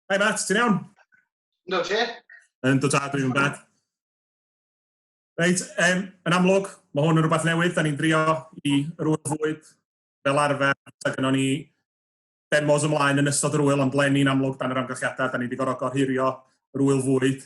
Hi Matt, ti'n iawn? No, ti? Yn dod adwy yn bad. Reit, um, yn amlwg, mae hwn yn rhywbeth newydd, da ni'n drio i rwy'n fwyd fel arfer, da gynnwn ni demos ymlaen yn ystod yr wyl, ond len ni'n amlwg dan yr amgylchiadau, da ni wedi gorfod gorhurio rwyl fwyd.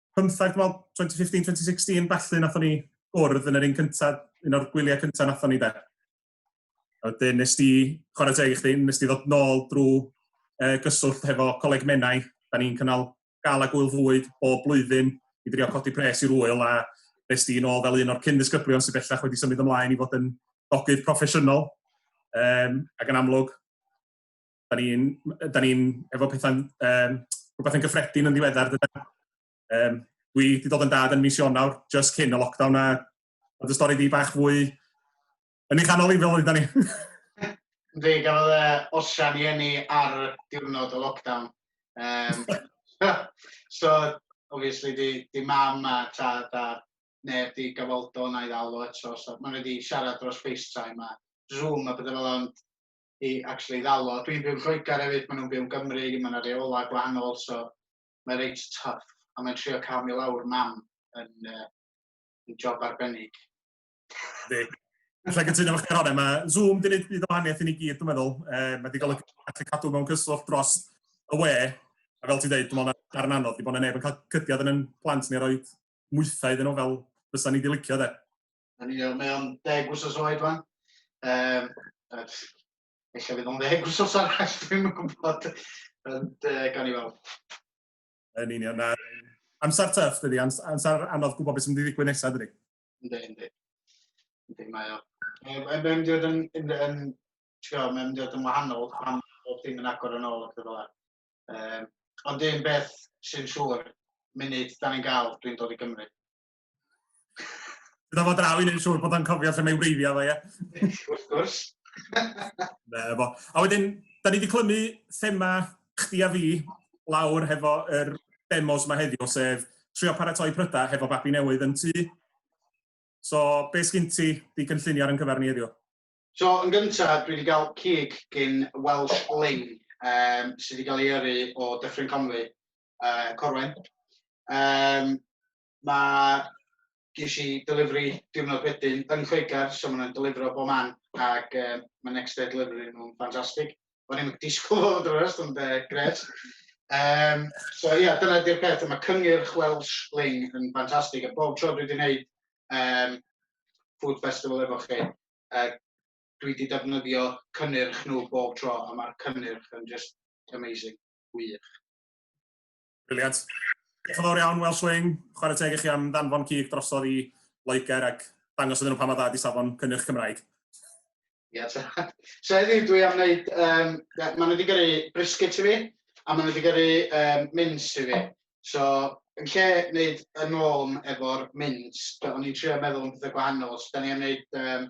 pymtheg, dwi'n meddwl, 2015, 2016, felly, nathon ni gwrdd yn yr un cyntaf, un o'r gwyliau cyntaf nathon ni de. A wedyn, nes di, chwarae teg i chdi, nes di ddod nôl drwy uh, gyswllt hefo coleg Menai. Da ni'n cynnal gael a gwyl fwyd bob blwyddyn i drio codi pres i'r wyl a nes di nôl fel un o'r cyn ddisgyblion sy'n bellach wedi symud ymlaen i fod yn dogydd proffesiynol. Um, ac yn amlwg, Da ni'n ni efo pethau'n um, rhywbeth yn gyffredin yn ddiweddar. Dyna, um, dwi wedi dod yn dad yn mis Ionawr, just cyn y lockdown, a oedd y stori di bach fwy yn ei chanol i fel oedda ni. Ynddi, gafodd e osian i enni ar diwrnod o lockdown. Um, so, obviously, di, di mam a tad a neb di gafoldo na i ddal o eto. So, maen nhw wedi siarad dros FaceTime a Zoom a bydde fel ond i actually ddalo. Dwi'n byw yn Lloegr hefyd, maen nhw'n byw yn Gymru, mae yna reolau gwahanol, so mae reit tough. A mae'n trio cael mi lawr mam yn, uh, yn job arbennig. Di. Alla gytuno eich Caron, mae Zoom dyn ni'n byd o wahaniaeth i ni gyd, dwi'n meddwl. E, mae wedi golygu gallu cadw mewn cyswllt dros y we. A fel ti'n dweud, dwi'n meddwl na darn anodd, di bod yna neb yn cael cydiad yn yn plant ni roed mwythau iddyn nhw fel fysa ni wedi licio, de. Yn union, mae o'n deg wsos oed fan. Um, Eich fydd o'n ddeg wsos arall, dwi'n gwybod. Ond uh, gan i weld. Yn union, na. Amser tyff, dydy. Amser anodd gwybod beth sy'n mynd i ddigwydd nesaf, dydy. Ynddi, ynddi. Ynddi, mae o. Mae'n mynd i fod yn, yn, yn, yn, mynd i fod yn wahanol pan bod dim yn agor yn ôl ac fel um, Ond un beth sy'n siŵr, munud da ni'n gael, dwi'n dod i Gymru. Dyna fo draw i wneud siŵr bod o'n cofio lle mae wreiddiau fo, ie? Wrth gwrs. Na, fo. A wedyn, da ni wedi clymu thema chdi a fi lawr hefo yr er demos yma heddiw, sef trio paratoi prydau hefo babi newydd yn tu. So, be sgyn ti di gynllunio ar yn cyfer ni heddiw? So, yn gyntaf, dwi wedi cael cig gyn Welsh Ling, um, sydd wedi cael ei yrru o Dyffryn Conwy, uh, Corwen. Um, Mae... ges i delivery diwrnod wedyn yn Lloegr, so maen nhw'n delifro bob man ac um, mae next day delivery nhw'n ffantastig. O'n i'n disgwyl fod yn drwy'r ond uh, gret. Um, so ie, yeah, dyna di'r peth, mae cyngyrch Welsh Ling yn ffantastig, a bob tro dwi wedi gwneud um, Food Festival efo chi, uh, dwi wedi defnyddio cynnyrch nhw bob tro, a mae'r cynnyrch yn just amazing, wych. Briliant. Diolch yn fawr iawn, Welsh Wing. Chwarae teg i chi am ddanfon cig drosodd i Loegr ac dangos iddyn nhw pa mor dda ydi safon cynnyrch Cymraeg. Ia, ta. So heddiw dwi am wneud, um, maen nhw wedi gyrru briscuits i fi, a maen nhw wedi gyrru um, mints i fi. So, yn lle wneud yn ôl efo'r mints, o'n i'n trio meddwl am pethau gwahanol, so da ni am wneud um,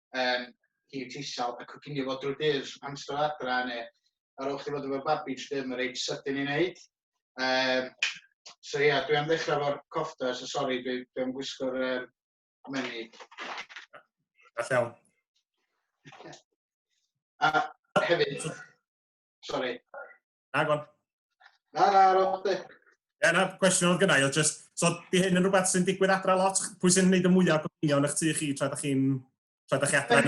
um, hi tisal a coginio fo drwy dydd amser adra neu ar ôl chi fod efo'r babi jyst ddim yn reit sydyn i wneud. Um, so ie, yeah, dwi am ddechrau fo'r cofta, so sori, dwi, dwi am gwisgo'r um, menu. A llawn. A hefyd, sori. Na, gwan. Na, na, ar ôl chdi. Ie, na, cwestiwn oedd gynnau, oedd just, so di hyn yn rhywbeth sy'n digwydd adra lot? Pwy sy'n gwneud y mwyaf gofynio yn eich tu chi tra da chi'n, tra da chi adra?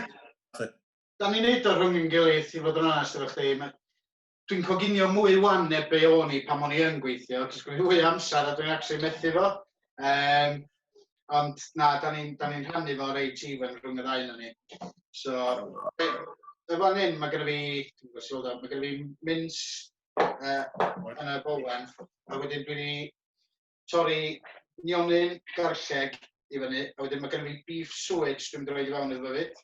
Da ni'n neud o rhwng yn gilydd, i fod yn onest efo chdi. Dwi'n coginio mwy wan neu be o'n i pan o'n i yn gweithio, cos dwi'n fwy amser a dwi'n actually methu fo. Um, Ond na, da ni'n da ni rhannu fo reit even rhwng y ddau na ni. So, y fan hyn, mae gen i fi, dwi'n gwybod sylwyd mae gen i fi mins uh, yn y bolen, a wedyn dwi'n i torri nionyn garlleg i fyny, a wedyn mae gen i fi beef suet dwi'n mynd i roed i fewn iddo fo fyd.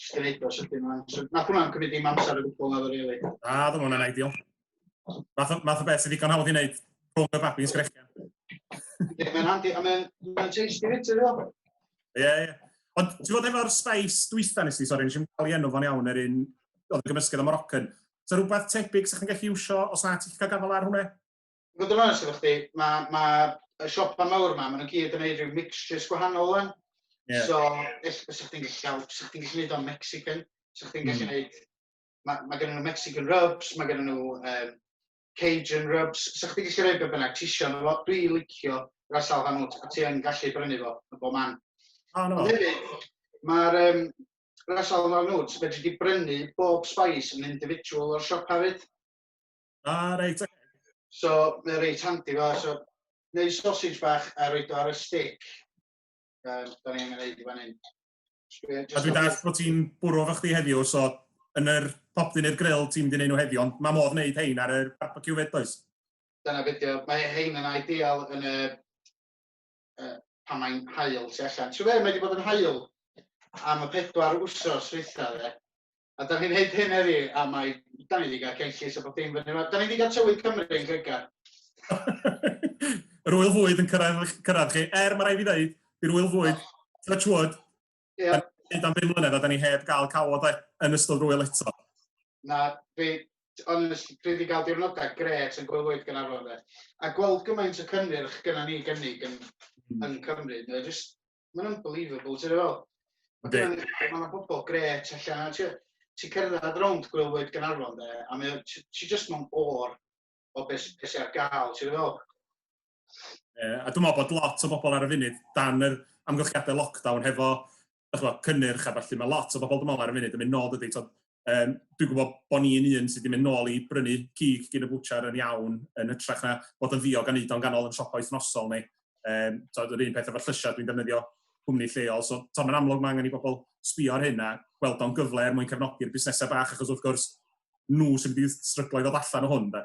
Just yn neud o sydyn yma. So, nath hwnna'n cymryd dim amser o gwbl na rili. Really. Na, ddim hwnna'n ideal. Math, math o beth sydd ddigon hawdd i wneud rhwng y babi'n sgrechian. Ie, mae'n handi, a mae'n ma tasty fyd, ti'n dweud? Ie, ie. Ond ti'n fod efo'r space dwytha nes i, sori, nes i'n cael ei enw fo'n iawn, yr un oedd yn gymysgedd o Moroccan. So rhywbeth tebyg sy'ch chi'n gallu iwsio os na ti'n cael gafael ar hwnna? I fod yn onest efo chdi, mae ma y siopa mawr yma, maen nhw gyd yn ei rhyw mixtures gwahanol o'n. Yeah. So, ell, os ydych chi'n gallu, os ydych chi'n gallu gwneud o'n Mexican, os ydych chi'n gallu gwneud, mm. mae ma gen nhw Mexican rubs, mae gen nhw um, Cajun rubs, os ydych chi'n gallu gwneud beth bynnag, tisio nhw fo, dwi licio rasal hanwt, a ti yn gallu brynu fo yn bob man. Oh, no. Ond hefyd, mae'r um, rasal hanwt, fe wedi brynu bob spice yn individual o'r siop hefyd. Ah, reit, oce. So, mae'n reit handi fo. So, neu sausage bach a roed o ar y stick. Um, da ni'n mynd i fan hyn. A dwi'n dall bod ti'n bwrw fo chdi heddiw, so yn yr popdyn neu'r grill ti'n mynd i wneud nhw heddiw, ond mae modd wneud hein ar y barbecue fed, does? Dyna fideo. Mae hein yn ideal yn y... Uh, pan mae'n hael tu allan. Ti'n fe, mae wedi bod yn hael am y pedwar wsos dweitha fe. A da ni'n neud hyn heddi, a mae... Da ni wedi cael cenllys a bod dim fyny yma. Da ni wedi cael tywydd Cymru yn Lloegr. Yr wyl fwyd yn cyrraedd, cyrraedd chi. Er, mae rai fi ddeud, i'r wyl fwyd, touch wood, yeah. da am bum mlynedd a da ni heb gael cawod yn ystod rwyl eto. Na, fi, ond dwi wedi cael diwrnodau gret yn gwyl fwyd gan arfer. A gweld gymaint o cynnyrch gyda ni gynnig yn, mm. yn Cymru, mae jyst Mae'n unbelievable, ti'n fel. Mae'n bobl gret allan. Ti'n cerdded rownd gwylwyr Gynarfon de, a mae ti just mewn o'r o beth sy ar gael, ti'n fel. Uh, a dwi'n meddwl bod lot o bobl ar y funud dan yr amgylchiadau lockdown hefo chwa, cynnyrch a falle mae lot o bobl dwi'n meddwl ar y funud yn mynd nôl dydy. Um, dwi'n gwybod bod ni'n un sydd wedi mynd nôl i brynu cig gyn y bwchar yn iawn, yn hytrach na bod yn ddiog a wneud o'n ganol yn siopau wythnosol ni. Um, so, yr un peth efo'r llysiau, dwi'n defnyddio cwmni lleol. So, so mae'n amlwg mae angen i bobl sbio ar hyn a gweld o'n gyfle er mwyn cefnogi'r busnesau bach, achos wrth gwrs, nhw sy'n wedi stryglo i ddod allan o hwn. Da.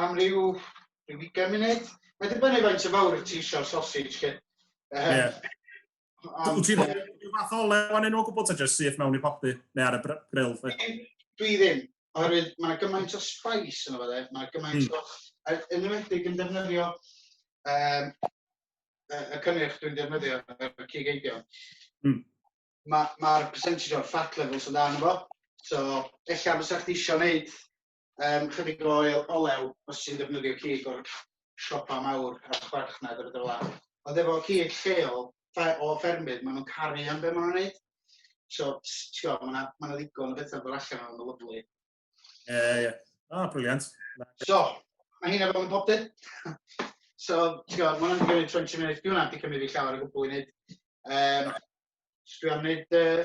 am ryw, ryw 20 munud. Mae dibynnu faint o fawr y ti eisiau sausage chi. Um, yeah. Wyt ti'n rhyw fath o lew anyn nhw gwybod ta jyst syth mewn i popty neu ar y brill? Dwi ddim, oherwydd mae gymaint o spice yn o'r mae gymaint hmm. o... Yn ymwedig yn defnyddio um, y cynnyrch dwi'n defnyddio y cig eidio. Mm. Mae'r ma percentage o'r fat levels yn dan efo. So, ella fysa chdi eisiau gwneud um, chydig o olew os ti'n defnyddio cig o'r siopa mawr a chwarchnad ar y dyla. Ond efo cig lleol o ffermydd, maen nhw'n caru am beth maen nhw'n gwneud. So, tio, mae yna ma ddigon o bethau fel allan o'n lyflu. Ie, yeah, ie. Yeah. Ah, briliant. So, mae hyn efo yn pob dyn. so, tio, mae hwnna'n gwneud 20 munud. Dwi'n hwnna'n di cymryd i llawer o gwbl i wneud. Um, dwi am wneud uh,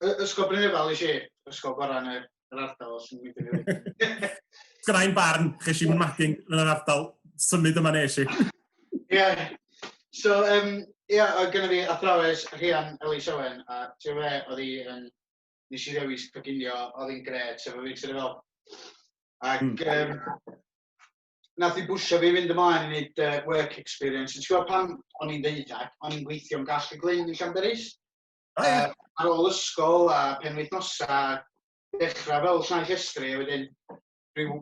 Y- Ysgol Brynefal i si, ysgol gorau yn yr, yr ardal os yn mynd i fi. Gyda'n barn, ches i mathing yn yr ardal, symud yma nes i. Ie. So, um, ie, yeah, oedd gynnu fi athrawes Rhian Ellis Owen, a ti'n fe, oedd hi yn... Nes i ddewis coginio, oedd hi'n gred, sef o fi, ti'n fel. Ac, mm. um, nath i bwysio fi fynd ymlaen i wneud uh, work experience. Ti'n gwybod pan o'n i'n ddeuddag, o'n i'n gweithio'n gall y glyn yn Llanberis? O ie. Yy ar ôl ysgol a penwythnosa dechra fel llnau llestri a wedyn rhyw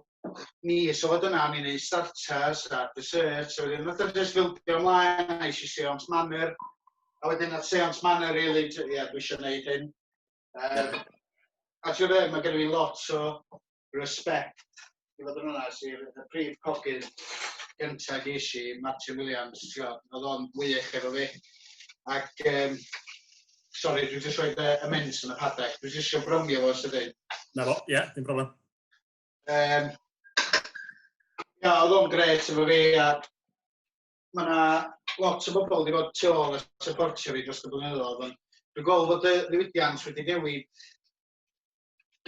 mis o dyna o'n i'n neud starters a desserts a wedyn nath o jyst fildio mlaen a es i Seance Manor a wedyn nath Seance Manor rili t- ie dwi isio neud hyn. Yym a t'wod be' ma' genno fi lot o respect i fod yn onast i'r y prif cogydd gynta ges i, Martin Williams, t'gwod, oedd o'n wych efo fi. Ac um, sorry, dwi'n just rhoi y mens yn y padau. Dwi'n just eisiau brownie fo sydyn. Na fo, ie, yeah, dim problem. Um, ia, oedd o'n gret efo fi a mae yna lot o bobl wedi bod tu ôl a supportio fi dros y blynyddoedd. Dwi'n gweld bod y ddiwydiant wedi newid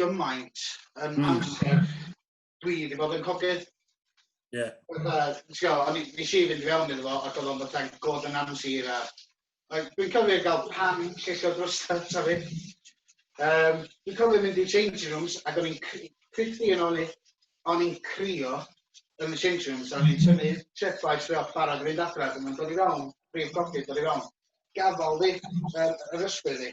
gymaint yn mm. amser dwi wedi bod yn cogydd. Ie. Yeah. O'n i nes i fynd fewn iddo fo ac oedd o'n fatha'n god yn amsir a dwi'n cofio gael pan llesio drosau ta fi. Um, dwi'n cofio mynd i changing rooms ac o'n i'n cryfdu yn ôl o'n i'n crio yn y changing rooms a o'n i'n tynnu treffaes fi off barod i fynd adre ac o'n i'n dod i fewn, prif cogydd dod i fewn. Gafal fi, yr ysbryd fi.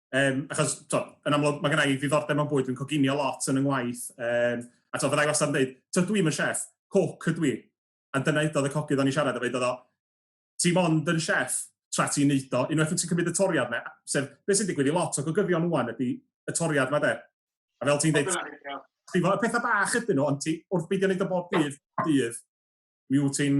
Um, achos, to, yn amlwg, mae gennau i ddiddordeb mewn bwyd, dwi'n coginio lot yn y ngwaith. Um, a to, fyddai wastad yn dweud, to, dwi'n yn chef, coc ydw i. A dyna edodd y cogydd o'n i siarad efo, edodd o, ti mond yn chef tra ti'n neud o, unwaith ti'n cymryd y toriad yna, sef, beth sy'n digwydd i lot o gogyddion wwan ydy y toriad yma de. A fel ti'n dweud, ti'n fawr, y pethau bach ydyn nhw, ond ti, wrth beidio wneud o bob dydd, dydd, mi wyt ti'n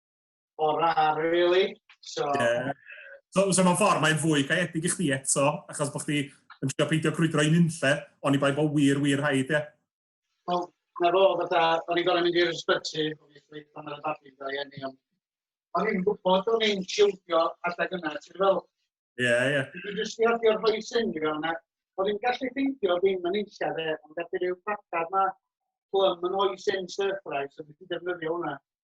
O rar, really. So... Yeah. So, so mae'n ffordd, mae'n fwy caeedig i chdi eto, achos bod chdi yn trio peidio crwydro i nunlle, ond i bai bod wir, wir haid, ie. Wel, na fo, fatha, o'n i'n gorau mynd i'r ysbyty, o'n i'n ffryd pan oedd y babi yn ei enni, ond o'n i'n gwybod o'n i'n siwdio adeg yna, ti'n fel? Ie, yeah, ie. Yeah. Dwi'n just i adio'r rhoi sy'n i fewn, o'n i'n gallu ffeindio ddim yn eisiau fe, ond gallu rhyw pacad ma, plym yn oes yn surprise, o'n i'n defnyddio hwnna.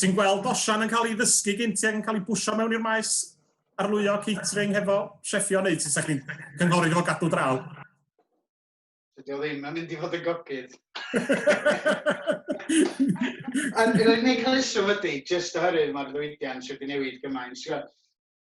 Ti'n gweld osian yn cael ei ddysgu gyn ti ac yn cael ei bwysio mewn i'r maes arlwyo catering hefo chefio neu ti'n sa'ch cynghori fo gadw draw? Dydy o ddim yn mynd i fod yn gogydd. Yn rhaid ni cael isio wedi, jyst oherwydd mae'r ddwydiant wedi newid gymaint.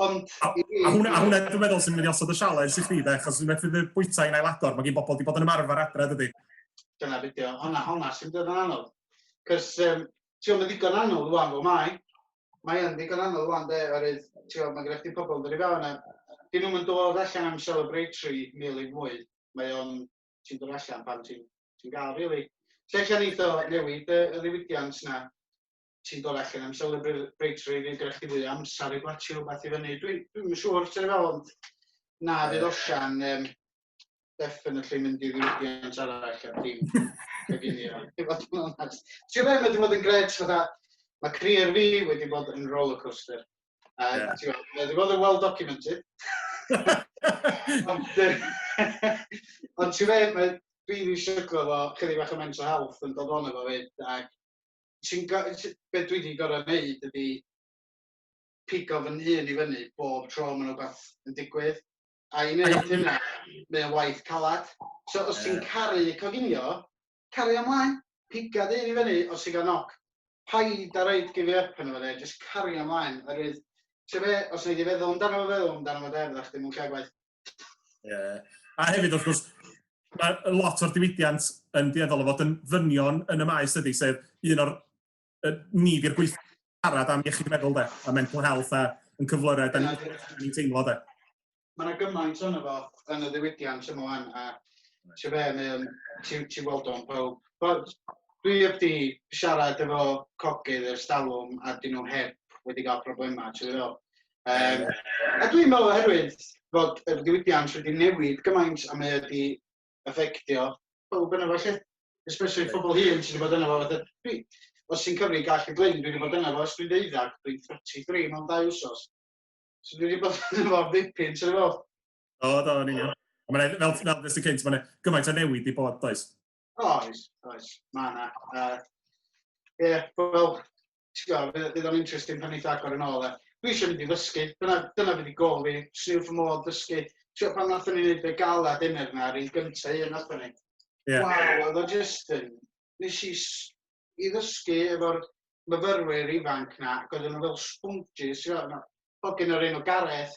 Ond... A, a hwnna, a hwnna dwi'n meddwl sy'n mynd i osod y sialens i chdi, de, achos dwi'n meddwl fydd bwyta i'n ailador, mae gen bobl wedi bod yn ymarfer adre, dydy. Dyna beth yw, hwnna, hwnna sy'n dod yn anodd. Cos, um, ti'n meddwl, mae ddigon anodd rwan fel mae. Mae yn ddigon anodd rwan, de, oherwydd, ti'n meddwl, mae gen i pobl yn dod i fewn a dyn nhw'n mynd dod allan am celebratory meal i mwy. Mae o'n, ti'n dod allan pan ti'n ti gael, really. Lle allan eitho newid y, y ddiwydiant yna, ti'n dod allan am celebrate rei fi gyda chdi fwy am sari gwlatio rhywbeth i fyny. Dwi'n dwi yn siŵr ti'n fel ond na fydd osian um, definitely mynd i ddiwydiant arall ar dim coginio. Ti'n bod yn onest. Ti'n rhaid wedi bod yn gred fatha, mae career fi wedi bod yn rollercoaster. A yeah. ti'n bod, wedi bod yn well documented. ond ond ti'n rhaid, dwi wedi syglo fo chydig bach o mental health yn dod o'n efo fyd ac sy'n go- sy- be dwi 'di gor'o' neud ydi pigo fy nhun i fyny bob tro ma' 'na wbath yn digwydd, a i neud hynna mae o'n waith calad. So os ti'n caru coginio, caria mlaen, piga dy hun i fyny os ti'n ga'l knock. Paid â roid give up arno fo 'de, jyst caria mlaen oherwydd t'o' be', os nei di feddwl amdano fo feddwl amdano fo 'de, fyddach chdi mewn lle gwaeth. Yeah. A hefyd, wrth gwrs, mae lot o'r diwydiant yn dueddol o fod yn ddynion yn y maes ydy, sef un o'r uh, ni di'r gweithio siarad am iechyd meddwl de, a mental health a yn cyflyrau, da ni'n teimlo de. Mae yna gymaint o'n efo yn y ddiwydiant yma wan, a ti fe, mae'n, ti, ti weld o'n pawb. But, dwi heb di siarad efo cogydd ers dalwm a dyn nhw heb wedi cael problemau, ti'n meddwl? Um, a dwi'n meddwl oherwydd fod y diwydiant wedi newid gymaint a mae wedi effectio pob yna fo lle. Especially pobl hyn sydd wedi bod yna fo. Fatha, dwi, os ti'n cyfri gall y glyn, dwi wedi bod yna fo os dwi'n deuddag, dwi'n 33 mewn dau wsos. So dwi wedi bod yna fo ddipyn, ti'n meddwl? O, do, yn union. Fel, fel ddysgu cynt, mae'n gymaint o newid i bod, does? Oes, oes, mae yna. Uh, yeah, wel, bydd o'n interesting pan eitha agor yn ôl. E. Dwi eisiau mynd i ddysgu, dyna, dyna fydd i gol fi, swn i'n ffymol ddysgu. Tio pan nath ni wneud y gala dinner na, rhaid gyntaf un nath ni. Yeah. Wow, oedd o just yn, nes i, i ddysgu efo'r myfyrwyr ifanc na, ac oedden nhw fel sponges, ti'n gwybod, hogyn o'r enw Gareth,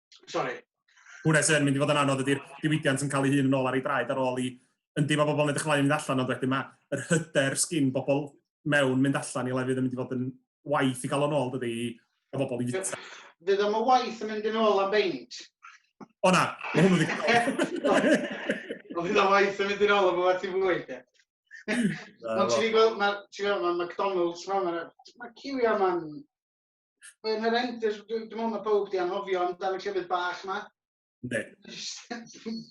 Sorry. Hwna sy'n mynd i fod yn anodd ydy'r diwydiant yn cael ei hun yn ôl ar ei draed ar ôl i yndi mae bobl yn edrych ymlaen mynd allan ond wedyn mae yr hyder sgin bobl mewn mynd allan i lefydd yn mynd i fod yn waith i gael o'n ôl dydy i a bobl i fita. Fydd am y waith yn mynd yn ôl am beint. O na, mae hwnnw ddigon. Ond fydd am waith yn mynd yn ôl am y waith i fwy. Ond ti'n gweld, mae McDonald's, mae ma, ma ciwio yma'n Yn yr end, dwi'n meddwl mae pawb di anhofio amdano llefydd bach ma. Ne.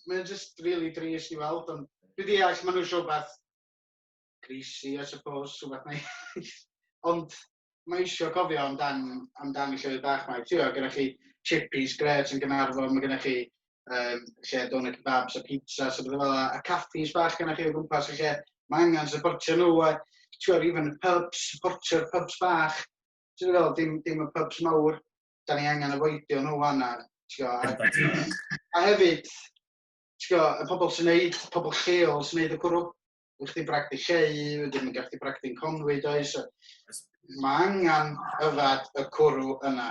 Mae'n just really dris i weld, ond dwi di all, maen nhw eisiau beth greasy, I suppose, sy'n beth mae. ond mae eisiau cofio amdan, amdan y llefydd bach ma. Ti'n gyda chi chippies gret yn Gynarfon, mae gyda chi um, lle doner kebabs a pizza, so bydde fel a caffis bach gyda chi o gwmpas y lle. Mae angen supportio nhw a ti'n even y pubs, supportio'r pubs bach. ti'n gwybod fel, dim, dim y pubs mawr, da ni angen avoidio nhw fanna, ti'n gwybod. A, a hefyd, ti'n gwybod, y pobl sy'n neud, pobl lleol sy'n neud y cwrw, ydych chdi bragdi lleu, wedyn yn gallu bragdi'n conwy, does? Mae angen yfad y cwrw yna.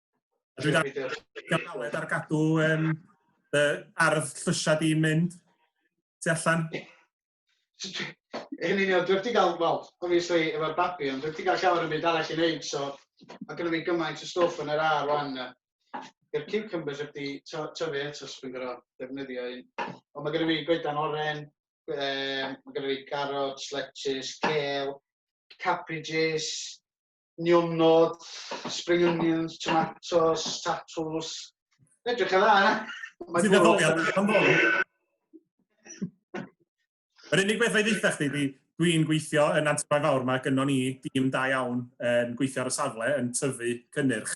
Dwi'n galed ar gadw um, dy ardd llysiau di mynd tu allan. Yn union, dwi wedi cael, wel, obviously, efo'r babi, ond dwi wedi cael llawer yn byd arall i wneud, so mae gennym ni gymaint o stwff yn yr ar rwan. I'r cucumbers wedi tyfu eto, so fi'n gorau defnyddio un. Ond mae gennym ni goedan oren, mae gennym ni carrots, lettuce, kale, cabbages, niwmnod, spring onions, tomatoes, tatws. Edrych yn dda, na? Ti'n ddetholiad, pan ddol. Yr unig beth fe ddeitha chdi di, dwi'n gweithio yn Antibai Fawr, mae gynnon ni dîm da iawn yn gweithio ar y safle, yn tyfu cynnyrch.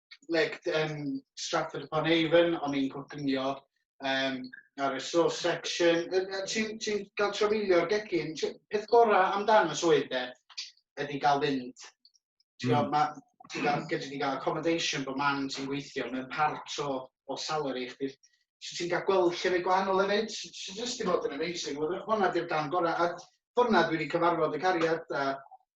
like, um, Stratford upon Avon, o'n i'n coginio um, ar y sauce section. Ti'n ti cael trafeilio'r gegin, peth gorau amdano swydd de, ydy gael fynd. Ti'n mm. ma, ti gael, gyda ti gael accommodation bod man ti'n gweithio, mae'n part o, o salary chdi. So ti'n cael gweld llefydd gwahanol hefyd, so jyst i fod yn amazing. Hwna di'r gan gorau, a hwna dwi wedi cyfarfod y cariad, a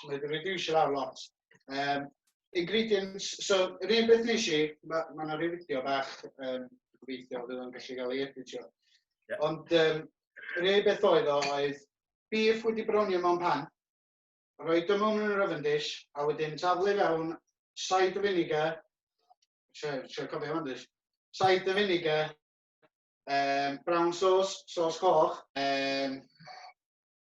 So mae wedi reducio lawr lot. Um, ingredients, so yr un beth nes i, mae yna ma rhyw fideo bach um, gobeithio fydd o'n gallu cael ei editio. Yeah. Ond um, yr un beth oedd o oedd beef wedi bronio mewn pan, rhoi dy mewn yn yr oven dish, a wedyn taflu fewn said o vinegar, sio cofio fan dys, said o vinegar, um, brown sauce, sauce coch, um,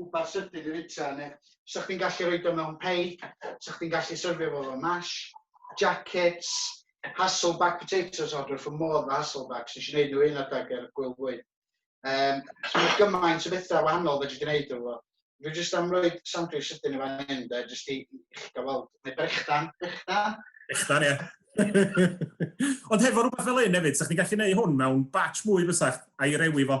wbath sydyn i fita neu 'sa chdi'n gallu rhoid o mewn peid, 'sa chdi'n gallu syrfio fo fel mash, jackets, Hasselback potatoes o dwi wrth fy modd efo Hasselbacks, nes i neud nhw un adeg ar Gwyl Fwyn. Um, so mae gymaint o bethau wahanol fedri di wneud efo. Dwi jyst am roi sandwich sydyn i fan hyn, de, jyst i chi gael weld. Neu brechdan, brechdan. Brechdan, ie. Ond hefo rhywbeth fel hyn hefyd, sa'ch chi'n gallu gwneud hwn mewn batch mwy fysach a'i rewi fo?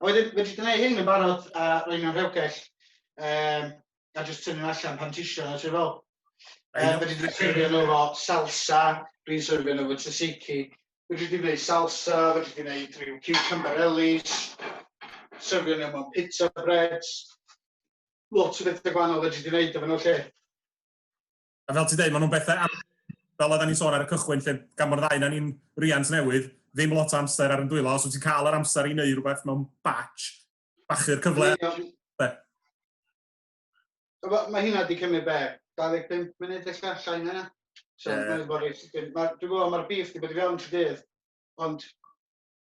A wedyn, wedi gwneud hyn yn barod a roi nhw'n rhewgell, um, a jyst tynnu allan pan tisio nhw, ti'n fel. Um, wedi dwi'n serfio nhw fo salsa, dwi'n serfio nhw fo tzatziki, wedi dwi'n gwneud salsa, wedi dwi'n gwneud rhyw cucumber ellis, serfio nhw mewn pizza breads, lot o bethau gwahanol wedi dwi'n gwneud efo nhw lle. A fel ti'n dweud, maen nhw'n bethau am... fel oedden ni'n sôn ar y cychwyn lle, gan bod y ddau na ni'n riant newydd, ddim lot o amser ar yn dwylo, os wyt ti'n cael yr amser i wneud rhywbeth mewn batch, bachu'r cyfle. Be? Mae ma hynna wedi cymryd be? 25 munud felly, llai na yna. So, yeah. mae'n bod reit sydyn. Dwi'n gwybod, mae'r beef wedi bod i fewn trwy dydd, ond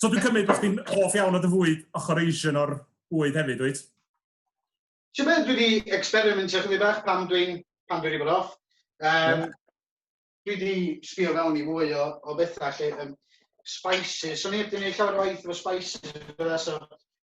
so dwi'n cymryd bod chdi'n hoff iawn o dy fwyd ochr Asian o'r bwyd hefyd, wyt? Ti'n meddwl, dwi wedi experimentio chyddi bach pan dwi'n pan dwi'n bod off. Um, yeah. Dwi wedi sbio fewn i fwy o, o bethau lle um, spices. So ni wedi gwneud llawer o waith efo spices. Bydda, so,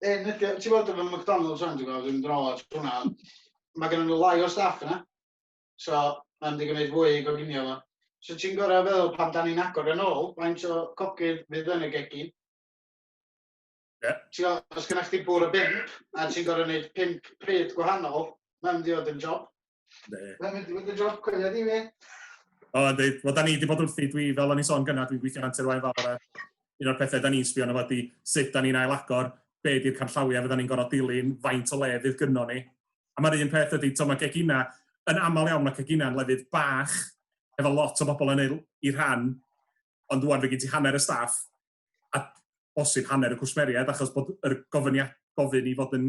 E, nid- ti'n bod efo McDonald's rhan, ti'n gweld, dwi'n dro at hwnna. Mae gen nhw lai o staff yna. So, mae'n di gwneud fwy i goginio fo. So ti'n gorau feddwl pan da ni'n agor yn ôl, faint o cogydd fydd yn y gegin. Yeah. Ti'n gweld, os gynna'ch chdi bwr o bimp, a ti'n gorau gwneud pimp pryd gwahanol, mae'n mynd i fod yn job. Mae'n mynd i fod yn job coeledd i fi. O, ynddi. Wel, da ni wedi bod wrthi, dwi, fel o'n i'n sôn gyna, dwi'n gweithio antur wain fawr, a un o'r pethau da ni'n sbio yna wedi sut da ni'n ailagor, be di'r canllawiau fydda ni'n gorfod dilyn, faint o le fydd gynno ni. A mae'r un peth ydy, to, mae gegina, yn aml iawn mae gegina yn lefydd bach, efo lot o bobl yn ei, ei rhan, ond dwi'n fe gen ti hanner y staff, a bosib hanner y cwsmeriaid, achos bod yr gofyniad, gofyn i fod yn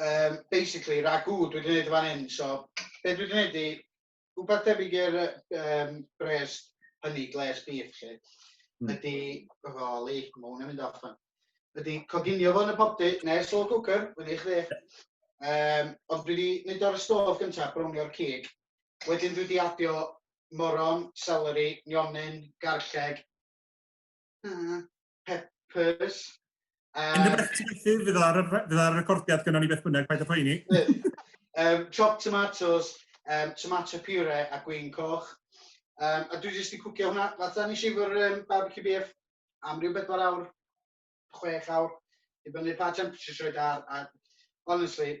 um, basically, ragw dwi wedi gwneud fan hyn, so be dwi wedi gwneud i, rhywbeth debyg i'r um, bres hynny, gles beef, lle, mm. ydy, roli, mae hwnna'n mynd off fan. Ydy, coginio fo yn y popty, neu slow cooker, fyny i chdi. Um, ond dwi wedi mynd o'r stof gyntaf, brownio'r cig. Wedyn dwi wedi adio moron, celery, nionyn, garlleg, hmm. Peppers. Um, Yn y beth ti'n fydd fydd ar recordiad gyda ni beth bynnag, paid o poeni. um, chopped tomatoes, um, tomato puree a gwyn coch. Um, a dwi jyst wedi cwcio hwnna. Fatha nes i efo'r um, barbecue beef am rhyw bedwar awr, chwech awr, i fyny pa temperature roed ar. A, honestly,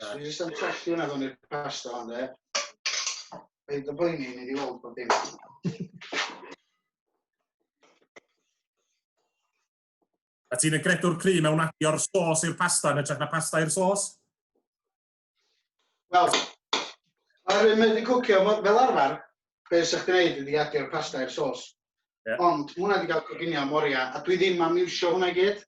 Na. Dwi jyst yn trolli hwnna fewn i'r pasta hon de. Paid yn poeni, ni di weld bod dim. A ti'n y gredwr cry mewn adio'r sôs i'r pasta yn ytrach na pasta i'r sôs? Wel, ar hyn mae wedi cwcio fel arfer, be sy'ch ti'n neud ydi adio'r pasta i'r sôs. Yeah. Ond hwnna wedi cael coginio am oriau, a dwi ddim am iwsio hwnna i gyd.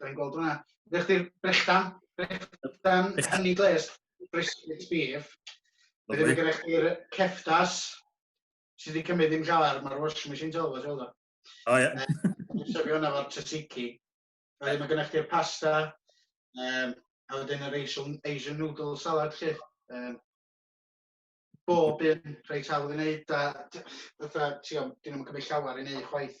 Da ni'n gweld hwnna. Ydych chi'n brechdan? Brechdan hynny gles, brisket beef. Fe ddim gyda chi'r ceftas sydd wedi cymryd ddim llawer, mae'r washing machine tol fod yw'r O ie. Sefio hwnna fo'r tzatziki. Mae gyda chi'r pasta, um, a wedyn yr Asian, Asian noodle salad chi. Um, bob un reit hawdd i wneud, a fatha, ti'n dyn nhw'n cymryd llawer i wneud chwaith.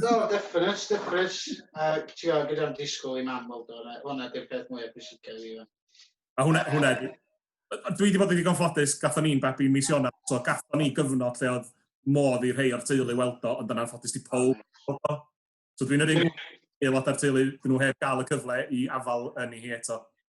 Do, definite, definite. Uh, Ti'n gwybod, gyda'r disgwyl i mam weld o'n hwnna di'r peth mwyaf pwysicau i fan. A hwnna, hwnna, dwi wedi bod yn ddigon ffodus, gatho ni'n babi mis Ionawr, so gatho ni gyfnod lle oedd modd i rhai o'r teulu weld o, ond yna'n ffodus di pob weld o. So dwi'n yr un aelod o'r teulu, dyn nhw heb gael y cyfle i afal yn ei hi eto.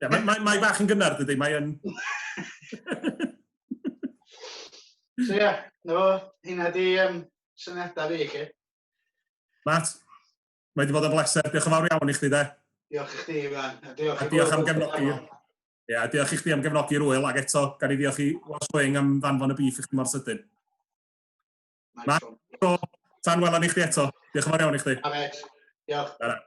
Ie, mae, mae, mae bach yn gynnar, dydy, mae yn... so ie, yeah, na fo, hynna di um, syniadau fi i chi. Matt, mae wedi bod yn bleser. Diolch yn fawr iawn i chdi, de. Diolch i chdi, Iwan. A diolch, a diolch am gefnogi. Ie, yeah, diolch i chdi am gefnogi'r wyl, ac eto, gan i ddiolch i Wash Wing am ddanfon y bif i chdi mor sydyn. Matt, so, tan welon i chdi eto. Diolch yn fawr iawn i chdi. Amet, diolch. Diolch.